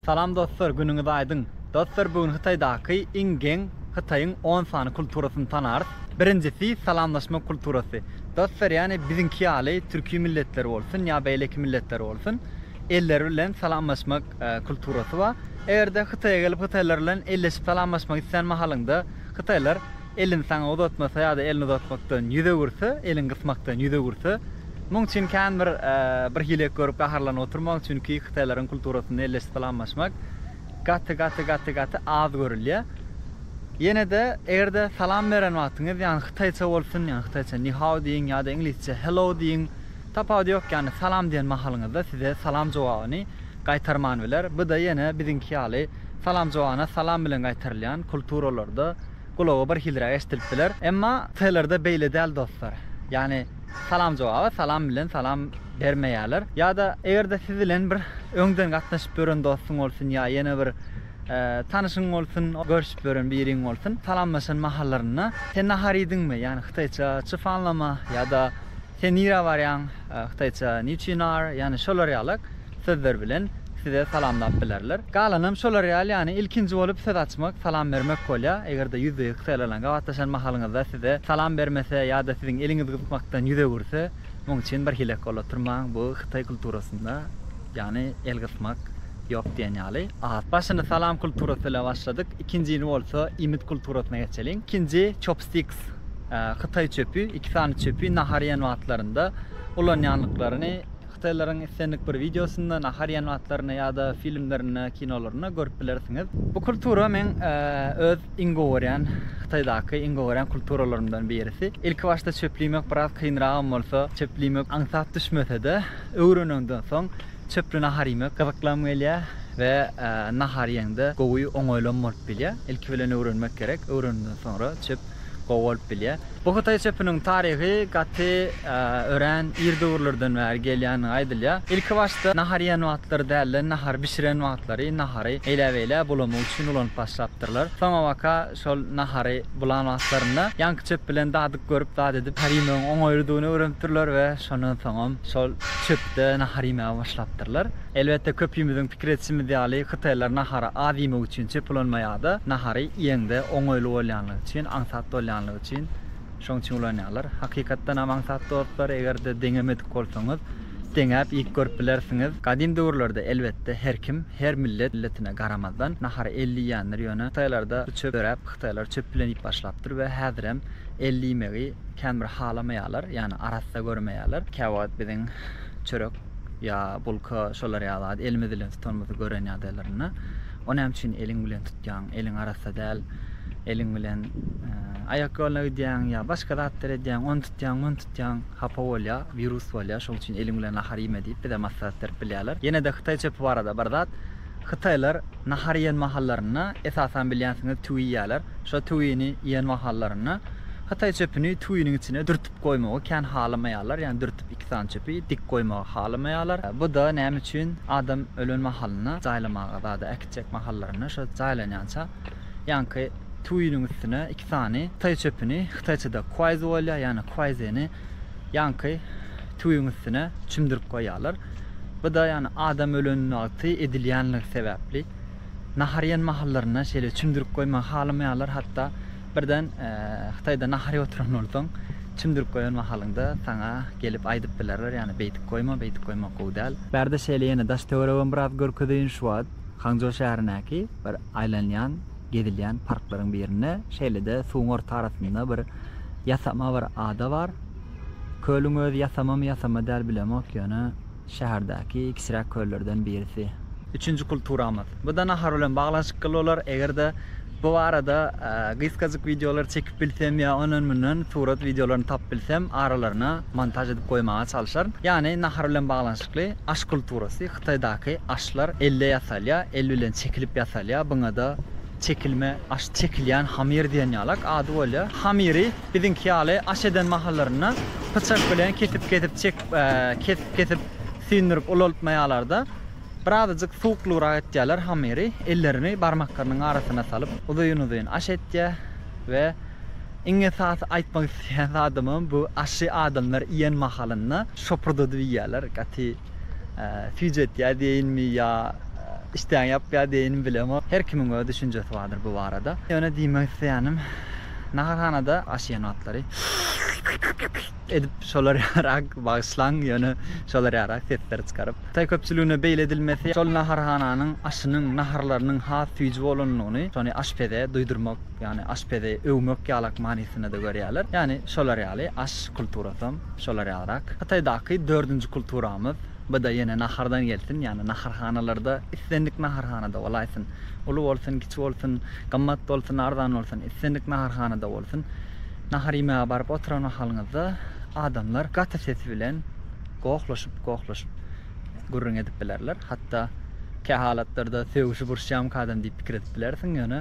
Salam dostlar günüňiz aýdyň. Dostlar bu gün Hytaýdaky iň geň Hytaýyň on sany kulturasyny tanarys. Birinjisi salamlaşmak kulturasy. Dostlar ýani biziňki ýaly türki milletler bolsun ýa beýleki milletler bolsun elleri bilen salamlaşmak kulturasy bar. Egerde Hytaýa gelip Hytaýlar bilen elleşip salamlaşmak islän mahalyňda Hytaýlar Elini saňa uzatmasa ýa-da elini uzatmakdan ýüz öwürse, elin gysmakdan ýüz öwürse, muň üçin kän bir bir hile görüp gaharlanyp oturmaň, çünki hytaýlaryň kulturasynda elleşip salamlaşmak gaty-gaty-gaty-gaty az görülýär. Ýene-de eger-de salam beren wagtyňyz ýagny hytaýça bolsun, ýagny hytaýça ni hao diýiň ýa-da iňlisçe hello diýiň, tapawudy ýok, ýagny salam diýen mahalyňyzda size salam jogabyny gaýtarman biler. Bu-da ýene biziňki ýaly salam jogabyna salam bilen gaýtarylýan kulturalarda, gulaga bir hilräk eşdilip biler. Emma T-lerde beýle däl dostlar. Ýagny salam jogaba salam bilen salam bermeýärler. Ýa-da eger-de siz bilen bir öňden gatnaşyp ýören dostuň bolsun ýa ýene bir tanyşyň bolsun, görşüp ýören biriň bolsun, salamlaşan mahallarynda, Sen nahar iýdiňmi? Ýagny hytaýça çyfanlama ýa-da. Sen nirä barýaň? Hytaýça niçin are? Ýany şolar ýaly sözler bilen size salamlap bilerler. Galanam şolar ýaly ýany ilkinji bolup söz açmak, salam bermek bolýar. Eger-de ýüzbe ýüz hytaýlar bilen gabatlaşan mahalyňyzda size salam bermese ýa-da siziň eliňizi gyzykmakdan ýüz öwürse, muň üçin bir hilek bolup oturmaň. Bu hytaý kulturasynda ýany el gysmak ýok diýen ýaly. Başyny salam kulturasy bilen başladyk. Ikinjini bolsa iýmit kulturasyna geçeliň. Ikinji chopsticks. Hytaý çöpi, iki sany çöpi nahar iýen wagtlarynda ulanýanlyklaryny hytaýlaryň islendik bir wideosynda, nahar iýen wagtlarynda ýa-da filmlerinde, kinolarynda görüp bilersiňiz. Bu kultura men öz iň gowy görýän, Hytaýdaky iň gowy görýän kulturalarymdan birisi. Ilkibaşda çöpli iýmek biraz kynragam bolsa, çöpli iýmek aňsat düşmese-de, öwreneniňden soň çöpli nahar iýmek gyzyklam gelýär we nahar iýeňde gowy, oňaýlam bolup bilýär. Ilki bilen öwrenmek gerek, öwrenenden soňra çöp gowy bolup bilýär. Bu hytaý çöpüniň taryhy gaty örän ir döwürlerden bäri gelýändigi aýdylýar. Ilki başda nahar iýen wagtlary däl-de, nahar bişiren wagtlary nahary eýläbeýlä bulamak üçin ulanyp başlapdyrlar. Soňabaka şol nahary bulan wagtlarynda ýaňky çöp bilen dadyk görüp, dat edip nahar iýmegiň oňaýlydygyny öwrenipdirler we şondan soňam şol çöpde nahar iýmäge başlapdyrlar. Elbetde köpimiziň pikir edişimiz ýaly hytaýlar nahary az iýmek üçin çöp ulanmaýarda, nahary iýeňde oňaýly bolýanlygy üçin, aňsat bolýanlygy üçin şoň üçin ulanýarlar. Hakykatdan hem aňsat dostlar, eger-de deňemedik bolsaňyz deňäp iýip görüp bilersiňiz. Gadym döwürlerde elbetde her kim, her millet milletine garamazdan nahary elli iýendir, ýöne hytaýlarda bu çöp döräp hytaýlar çöp bilen iýip başlapdyr we häzirem elli iýmegi kän bir halamaýarlar, ýagny arassa görmeýärler. Käwagt biziň çörek ýa bulka şolar ýaly zat elimiz bilen tutanymyzy gören ýagdaýlarynda o näme üçin eliň bilen tutýaň eliň arassa däl eliň bilen aýak ýoluna gidýäň ýa başga zatlar edýäň ony tutýaň muny tutýaň hapa bolýa wirus bolýa şoň üçin eliň bilen nahar iýme diýip bize maslahat berip bilýärler ýenede hytaý çöpi barada bir zat hytaýlar nahar iýen mahallarynda esasan bilýänsiňiz tüwi iýýärler şo tüwini iýen mahallarynda hytaý çöpüni tüwiniň içine dürtüp goýmagy kän halamaýarlar, ýagny dürtüp iki sany çöpi dik goýmagy halamaýarlar. Bu-da näme üçin, adam ölen mahalynda jaýlamaga zada äkitjek mahallarynda şo jaýlanýança ýaňky tuýynyň üstüne iki sany hytaý çöpüni, hytaýçada kuaýzu bolýar, ýagny kuaýzeni ýaňky tuýyň üstüne çümdürip goýýarlar. Bu-da ýagny adam ölen wagty edilýänligi sebäpli. Nahar iýen mahallarynda şeýle çümdürip goýmagy halamaýarlar, hatda Birden Hytaýda nahar iýip oturan bolsaň, çümdürip goýan mahalyňda saňa gelip aýdyp bilerler, ýagny beýdip goýma, beýdip goýmak gowy däl. Bärde şeýle ýene daş-töweregem biraz görkezeýin şu wagt. Hangzhou şäherindäki bir aýlanýan, gezilýän parklaryň birinde şeýle-de suwuň orta arasynda bir ýasama bir ada bar. Kölüň özi ýasamamy, ýasama däl bilemok, ýöne. şäherdäki kiçiräk köllerden birisi. Üçünji kulturamyz. Bu-da nahar bilen baglanyşykly bolar. Eger-de bu barada gysgajyk wideolar çekip bilsem ýa ondan-mundan surat wideolaryny tapyp bilsem, aralaryna montaž edip goýmaga çalyşaryn. Ýagny nahar bilen baglanyşykly aş kulturasy, Hytaýdaky aşlar elde ýasalýar, el bilen çekilip ýasalýar. Buňa-da. Çekilme aş çekilýän hamyr diýen ýalak ady bolýar. Hamyry biziňki ýaly aş eden mahallarynda pyçak bilen kesip-kesip çekip, kesip-kesip süýndürip ulaltmaýarlar-da, birazajyk suwuklygrak etýärler hamyry, ellerini barmaklarynyň arasyna salyp uzyn-uzyn aş etýär we iň esasy aýtmak isleýän zadymam bu aşy adamlar iýen mahalynda şopurdadyp iýýärler, gaty Süýji etýär diýeýinmi ýa işdäňi ýapýar diýeýinmi bilemok. Her kimiň öz düşünjesi bardyr bu barada. Ýöne diýmek isleýänim, naharhanada aş iýen wagtlary edip şolar ýarak, bagyşlaň, ýöne şolar ýarak sesleri çykaryp, hytaý köpçüligine beýle edilmesi şol naharhananyň aşynyň, naharlarynyň has süýji bolanlygyny, şony aşpeze duýdurmak Ýagny aşpezi öwmek ýalak manysynda-da görýärler. Ýagny şolar ýaly aş kulturasam şolar ýalyrak. Hytaýdaky dördünji kulturamyz, bu-da ýene nahardan gelsin, ýagny naharhanalarda islendik naharhanada bolaýsyn. Uly bolsun, kiçi bolsun, gymmat bolsun, arzan bolsun, islendik naharhanada bolsun. Nahar iýmäge baryp oturan mahalyňyzda adamlar gaty ses bilen gohlaşyp-gohlaşyp gürrüň edip bilerler. Hatda kä halatlarda sögüşip uruşýamyka adam diýip pikir edip bilersiň, ýöne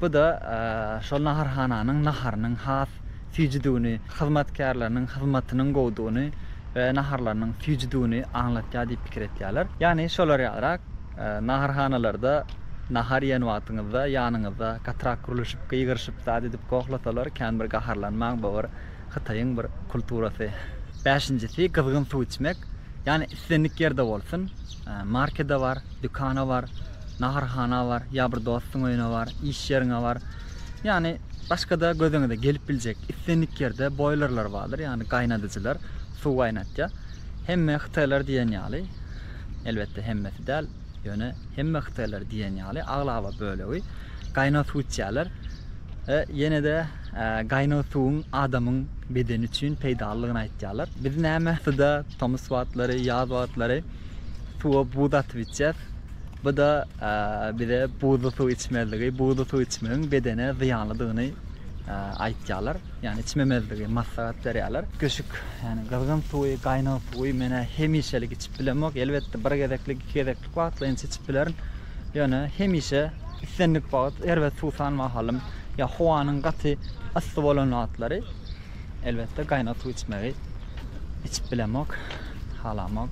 bu-da e, şol naharhananyň naharynyň has süýjüdigini, hyzmatkärleriniň hyzmatynyň gowudygyny we naharlarynyň süýjüdigini aňlatýar diýip pikir edýärler. Ýagny şolar ýalyrak e, naharhanalarda nahar iýen wagtyňyzda ýanyňyzda gatyrak gürleşip, gygyryşyp, zat edip gohlasalar, kän bir gaharlanmaň, bu bir Hytaýyň bir kulturasy. Bäşinjisi gyzgyn suw içmek. Ýany islendik ýerde bolsun. Markede bar, dükana bar, naharhana bar, ýa bir dostuň öýüne bar, iş ýeriňe bar. Ýany başgada gözüňize gelip biljek islendik ýerde boýlerler bardyr, ýany gaýnadyjylar suw gaýnatýar. Hemme hytaýlar diýen ýaly, elbetde hemmesi däl, ýöne hemme hytaýlar diýen ýaly aglaba bölegi gaýnag suw içýärler. Ýene-de gaýnag suwuň adamyň bedeni üçin peýdalydygyny aýtýarlar. Biz näme suda tomus wagtlary, ýaz wagtlary suwa buz atyp içýäs. Bu-da bize buzly suw içmezligi, buzly suw içmegiň bedene zyýanlydygyny aýtýarlar. Ýagny içmemezligi maslahat berýärler. Köşük, ýagny gyzgyn suwy, gaýnag suwy men-ä hemişelik içip bilemok. Elbetde bir gezeklik, iki gezeklik wagtlaýynça içip bilerin. Ýöne hemişe islendik wagt, erbet suwsan mahalym ýa howanyň gaty yssy bolan wagtlary elbetde gaýnag suw içmegi içip bilemok, halamok.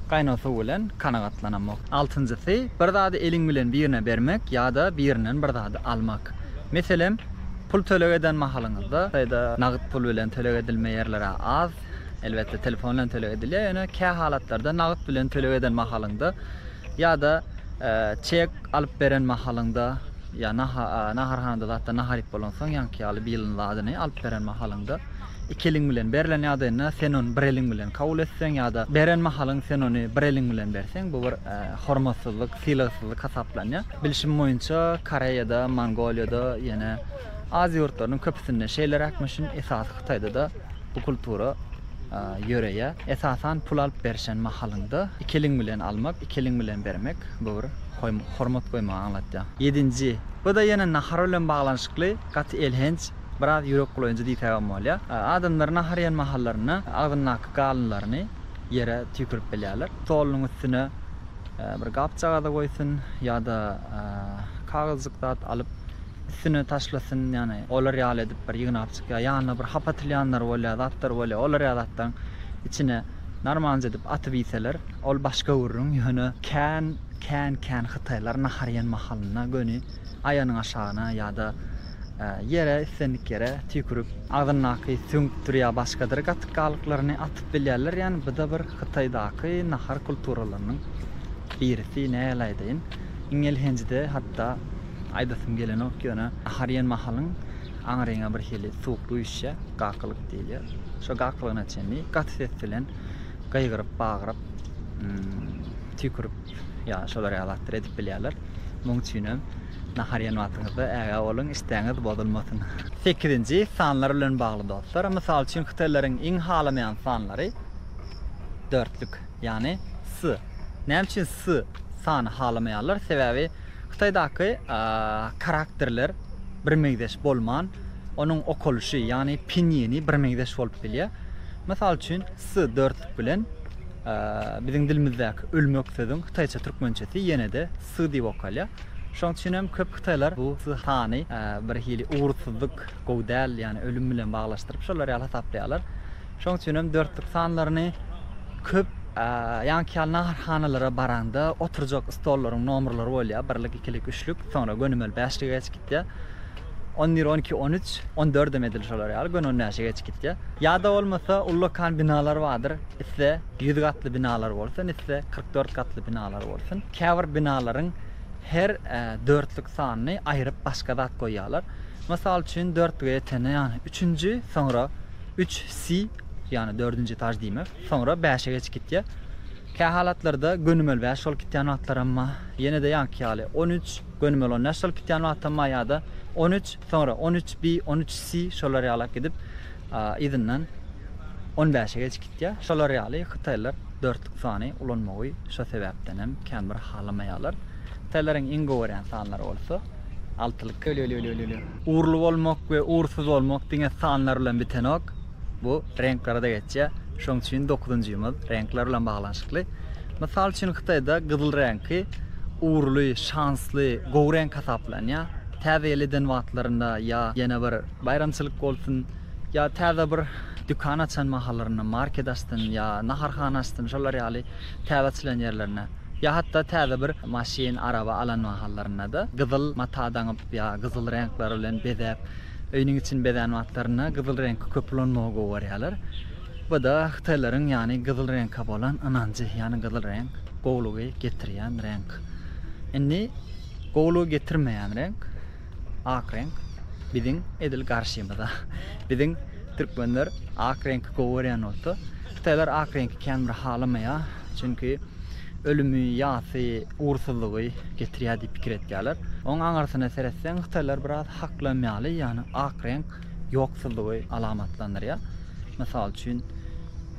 Gaýnag suw bilen kanagatlanamok. Altynjysy, bir zady eliň bilen birine bermek ýa-da birinden bir zady almak. Meselem, pul töleg eden mahalyňyzda, ýa-da nagt pul bilen töleg edilme ýerler-ä az, elbetde telefon bilen töleg edilýär, ýöne kähalatlarda nagt bilen töleg eden mahalyňda, Ýa-da çek alyp beren mahalyňda ýa naharhanada zatdan nahar iýip bolansoň ýaňky ýaly bilyň zadyny alyp beren mahalyňda iki eliň bilen berlen ýagdaýynda sen ony bir eliň bilen kabul etseň ýa-da beren mahalyň sen ony bir eliň bilen berseň bu bir hormatsyzlyk, sylagsyzlyk hasaplanýar. Bilşim boýunça Koreýada, Mongoliýada ýene Aziýa ýurtlarynyň köpüsinde şeýleräkmişin esasy Hytaýda-da Bu kultura ýöreýär. Esasan pul alyp berişen mahalyňda iki eliň bilen almak, iki eliň bilen bermek bu bir hormat goýmagy aňlatýar. Ýedinji, bu-da ýene nahar bilen baglanyşykly, gaty elhenç, biraz ýürek bulaýjy diýsegem bolýar. Adamlar nahar iýen mahallarynda agzyndaky galynlaryny ýere tüýkürip bilýärler. Stolunyň üstüne bir gapjagada goýsun ýa-da kagyzjyk zat alyp üstüne taşlasyn, ýagny olar ýaly edip bir ýygnap çykýar, ýanyna bir hap atylýanlar bolýar, zatlar bolýar, olar ýaly zatlaryň içine narmanjy edip atyp iýseler, ol başga gürrüň, ýöne kän, kän, kän hytaýlar nahar iýen mahalynda göni aýanyň aşagyna ýa-da ýere, islendik ýere tüýkürip, agzyndaky süňkdir ýa başgadyr gatyk galyklaryny atyp bilýärler, ýagny bu-da bir Hytaýdaky nahar kulturalarynyň birisi, nähili aýdaýyn, iň elhenji-de hatda. Aýdasym gelenok ýöne nahar iýen mahalyň aňryňa birhili suwuk üýşýä, gakylyk diýilýä. Şo gakylygyna çenli gaty ses bilen gygyryp, bagyryp, tüýkürip ýa şolar ýaly zatlar edip bilýärler. Muň üçinem nahar iýen wagtyňyzda ägä boluň, işdäňiz bozulmasyn. Sekizinji, sanlar bilen bagly dostlar. Mysal üçin hytaýlaryň iň halamaýan sanlary dörtlük, ýagny S. Näme üçin S sany halamaýarlar? Sebäbi Hytaýdaky karakterler birmeňzeş bolman, onuň okalyşy, ýagny pinýini birmeňzeş bolup bilýär. Mysal üçin, s dörtlik bilen biziň dilimizdäki ölmek sözüň hytaýça türkmençesi ýene-de s diýip okalýar. Şonuň üçin hem köp hytaýlar bu s sany bir hili ugursyzlyk, gowy däl, ýagny ölüm bilen baglanyşdyryp şolar ýaly hasaplaýarlar. Şoň üçin hem dörtlük sanlaryny köp ýaňky ýaly naharhanalara baraňda oturjak stollaryň nomerleri bolýar, birlik, ikilik, üçlik, soňra gönümel bäşlige geçip gitýär. On bir, on iki, on üç, on dördem edil şolar ýaly göni on bäşe geçip gitýär. Ýa-da bolmasa ullakan binalar bardyr, iste ýüz gatly binalar bolsun, iste kyrk dört gatly binalar bolsun. Käbir binalaryň her dörtlük sanyny aýryp başga zat goýýarlar. Mysal üçin dörtlüge ýetende ýagny üçünji, soňra Üç si, ýagny dördünji etaž diýmek. Soňra bäşe geçip gitýär. Kähalatlarda gönümel bäş bolup gitýän wagtlaram bar. Ýene-de ýaňky ýaly on üç, gönümel on bäş bolup gitýän wagtam bar ýa-da on üç, soňra on üç bi, on üç si şolar ýalak gidip, yzyndan on bäşe geçip gitýär. Şolar ýaly hytaýlylar dörtlük sany ulanmagy şo sebäpdenem känbir halamaýarlar. Hytaýlaryň iň gowy görýän sanlary bolsa. Altylykka. Urly bolmak we ursuz bolmak diňe sanlar bilen bitenok. Bu reňklerde geçýär. Şoň üçin dokuzynjymyz reňkler bilen baglanyşykly. Mysal üçin Hytaýda gyzyl reňki urly, şansly, gowy reňk hasaplanýar. Täze ýyl eden wagtlarynda ýa ýene bir baýramçylyk bolsun, ýa täze bir dükan açan mahallarynda, market açsyn ýa naharhana açsyn şolar ýaly täze açylan ýerlerinde. Ýa hatda täze bir maşyn, araba alan mahallarynda-da gyzyl mata daňyp ýa gyzyl reňkler bilen bezäp, öýüniň içini bezän wagtlarynda gyzyl reňki köp ulanmagy gowy görýärler. Bu-da hytaýlaryň ýany gyzyl reňke bolan ynanjy, ýani gyzyl reňk gowulygy getirýän reňk. Indi gowulygy getirmeýän reňk. ak reňk biziň edil garşymyza. Biziň türkmenler ak reňki gowy görýän bolsa, hytaýlar ak reňki kän bir halamaýar. Çünki ölümi, ýasy, ugursyzlygy getirýär diýip pikir etýärler. Onuň aňyrsyna seretseň, hytaýlar biraz haklam ýaly, ýagny ak reňk ýoksuzlygy alamatlandyrýar. Mysal üçin,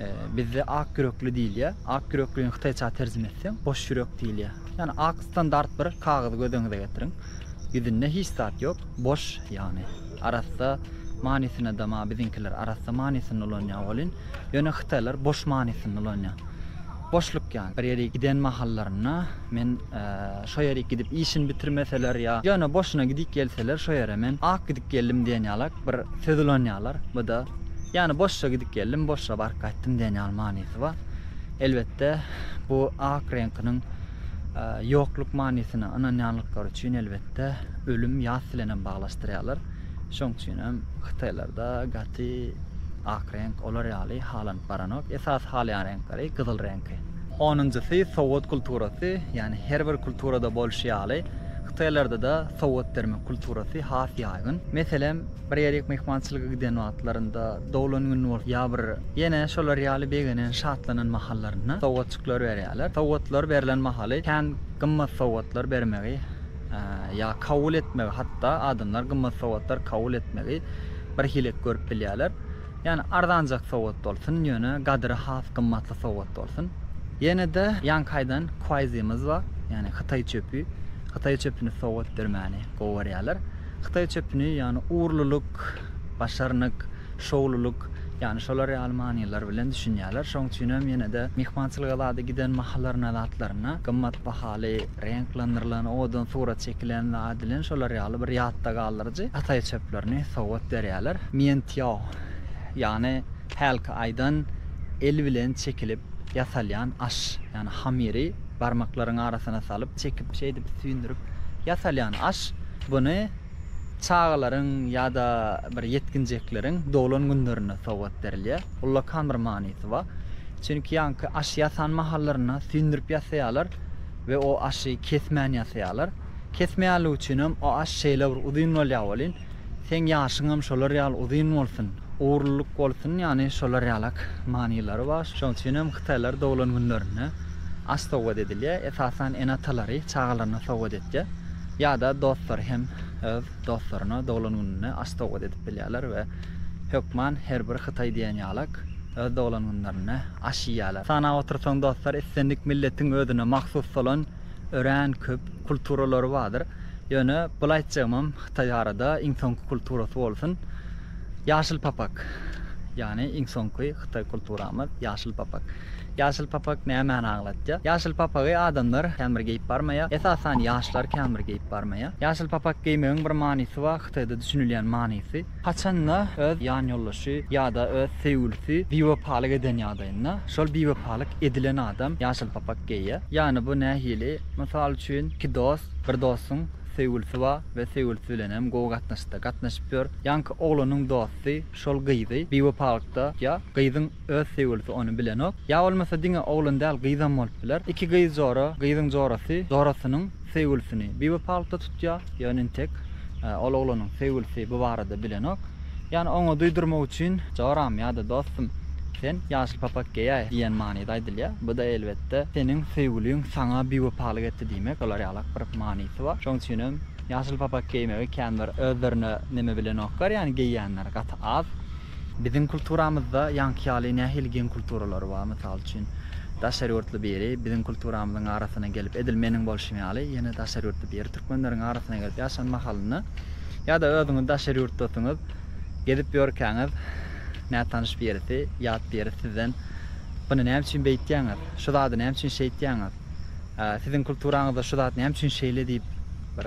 e, bizde ak ýürekli diýilýär. Ak ýüreklini hytaýça terjime etseň, boş ýürek diýilýär. Ýagny ak standart bir kagyzy göz öňüňize getiriň. Ýüzünde hiç zat ýok, boş ýagny. Arassa manysyna da ma biziňkiler arassa manysyny ulanýar welin, ýöne hytaýlar boş manysyny ulanýar. Boşluk ýagny. Bir ýerik giden mahallarynda men şo ýerik gidip işini bitirmeseler ýa ýöne boşuna gidip gelseler şo ýere men ak gidip geldim diýen ýalak bir söz ulanýarlar. Bu-da ýagny boşja gidip geldim, boşja baryp gaýtdym diýen ýaly manysy bar. Elbetde, bu ak reňkiniň ýokluk manysyna ynanýanlyklary üçin elbetde ölüm ýas bilen hem baglaşdyrýarlar. Şoň üçin hem hytaýlarda gaty ak reňk olar ýaly halanyp baranok. Esasy halaýan reňkleri gyzyl reňki. Onunjysy sowgat kulturasy, ýagny her bir kulturada bolşy ýaly hytaýlarda-da sowgat bermek kulturasy has ýaýgyn. Meselem, Bir ýerik myhmançylyga giden wagtlarynda, doglan gününi bolup ýa bir ýene şolar ýaly begenen, şatlanan mahallarynda sowgatjyklar berýärler. Sowgatlar berlen mahaly kän gymmat sowgatlar bermegi ýa kabul etmegi, hatda adamlar gymmat sowgatlar kabul etmegi bir hilek görüp bilýärler. Ýani arzanjak sowgat bolsun, ýöne gadyry has gymmatly sowgat bolsun. Ýene-de ýankaýdan kuaýzymyz bar. Ýani hytaý çöpi. Hytaý çöpüni sowgat bermäni gowy görýärler. Hytaý çöpüni, ýagny ugurlylyk, başarnyk, şowlulyk, ýagny şolar ýaly manylar bilen düşünýärler. Şoň üçin hem ýene-de myhmançylyga zada giden mahallaryna, zatlaryna gymmat bahaly, reňklendirlen, owadan surat çekilen zat bilen şolar ýaly bir ýatda galdyryjy hytaý çöplerini sowgat berýärler. Mientiao, ýagny hälki aýdan el bilen çekilip ýasalýan aş, ýagny hamyry Barmaklaryň arasyna salyp, çekip, şeýdip süýndürip ýasalýan aş, buny çagalaryň ýa-da bir ýetginjekleriň doglan günlerinde sowgat berilýär. Ullakan bir manysy bar. Çünki ýaňky aş ýasan mahallarynda süýndürip ýasaýarlar we o aşy kesmän ýasaýarlar. Kesmeýänligi üçinem o aş şeýle bir uzyn bolýar welin, Seň ýaşyňam şolar ýaly uzyn bolsun, ugurlylyk bolsun ýany şolar ýalak manylary bar. Şoň üçinem hytaýlar doglan günlerinde aş sowgat edilýär. Esasan ene-atalary çagalaryna sowgat etýär. Ýa-da dostlary hem öz dostlaryna doglan gününde aş sowgat edip bilýärler we hökman her bir hytaý diýen ýalak öz doglan günlerinde aş iýýärler. Sanap otursaň dostlar islendik milletiň özüne mahsus bolan örän köp kulturalary bardyr. Ýöne bul aýtjagymam Hytaý arada iň soňky kulturasy bolsun. Ýaşyl papak. Ýagny iň soňky Hytaý kulturamyz ýaşyl papak. Ýaşyl papak nämäni aňlatýar? Ýaşyl papagy adamlar kän bir geýip barmaýar. Esasan ýaşlar kän bir geýip barmaýar. Ýaşyl papak geýmegiň bir manysy bar, Hytaýda düşünilýän manysy. Haçan-da öz ýanýoldaşy ýa-da öz söýgülisi biwepalyk eden ýagdaýynda, şol biwepalyk edilen adam ýaşyl papak geýýär. Ýagny bu nähili? Mysal üçin, iki dost, bir dostuň söýgülisi bar we söýgülisi bilenem gowy gatnaşykda gatnaşyp ýör. Ýaňky oglanyň dosty şol gyzy biwepalykda tutýar. Gyzyň öz söýgülisi ony bilenok. Ýa bolmasa diňe oglan däl, gyzam bolup biler. Iki gyz jora, gyzyň jorasy jorasynyň Söýgülisini biwepalykda tutýar, ýöne entek ol oglanyň söýgülisi bu barada bilenok. Ýöne oňa duýdurmak üçin joram ýa-da dostum, sen ýaşyl papak geýäý diýen manyda aýdylýar. Bu-da elbetde seniň söýgüliň saňa biwepalyk etdi diýmek bolar ýalak bir manysy bar. Şoň üçin hem ýaşyl papak geýmegi känbir özlerine neme bilenoklar, ýagny geýýänler gaty az. Biziň kulturamyzda ýaňky ýaly nähili geň kulturalar bar? Mysal üçin, daşary ýurtly biri biziň kulturamyzyň arasyna gelip, edil meniň bolşum ýaly, ýene daşary ýurtly biri türkmenleriň arasyna gelip ýaşan mahalynda ýa-da özüňiz daşary ýurtdasyňyz, gezip ýörkäňiz, nätanyş birisi, ýat birisi sizden, Buny näme üçin beýtýäňiz? Şu zady näme üçin şeýtýäňiz? Siziň kulturaňyzda şu zat näme üçin şeýle diýip, bir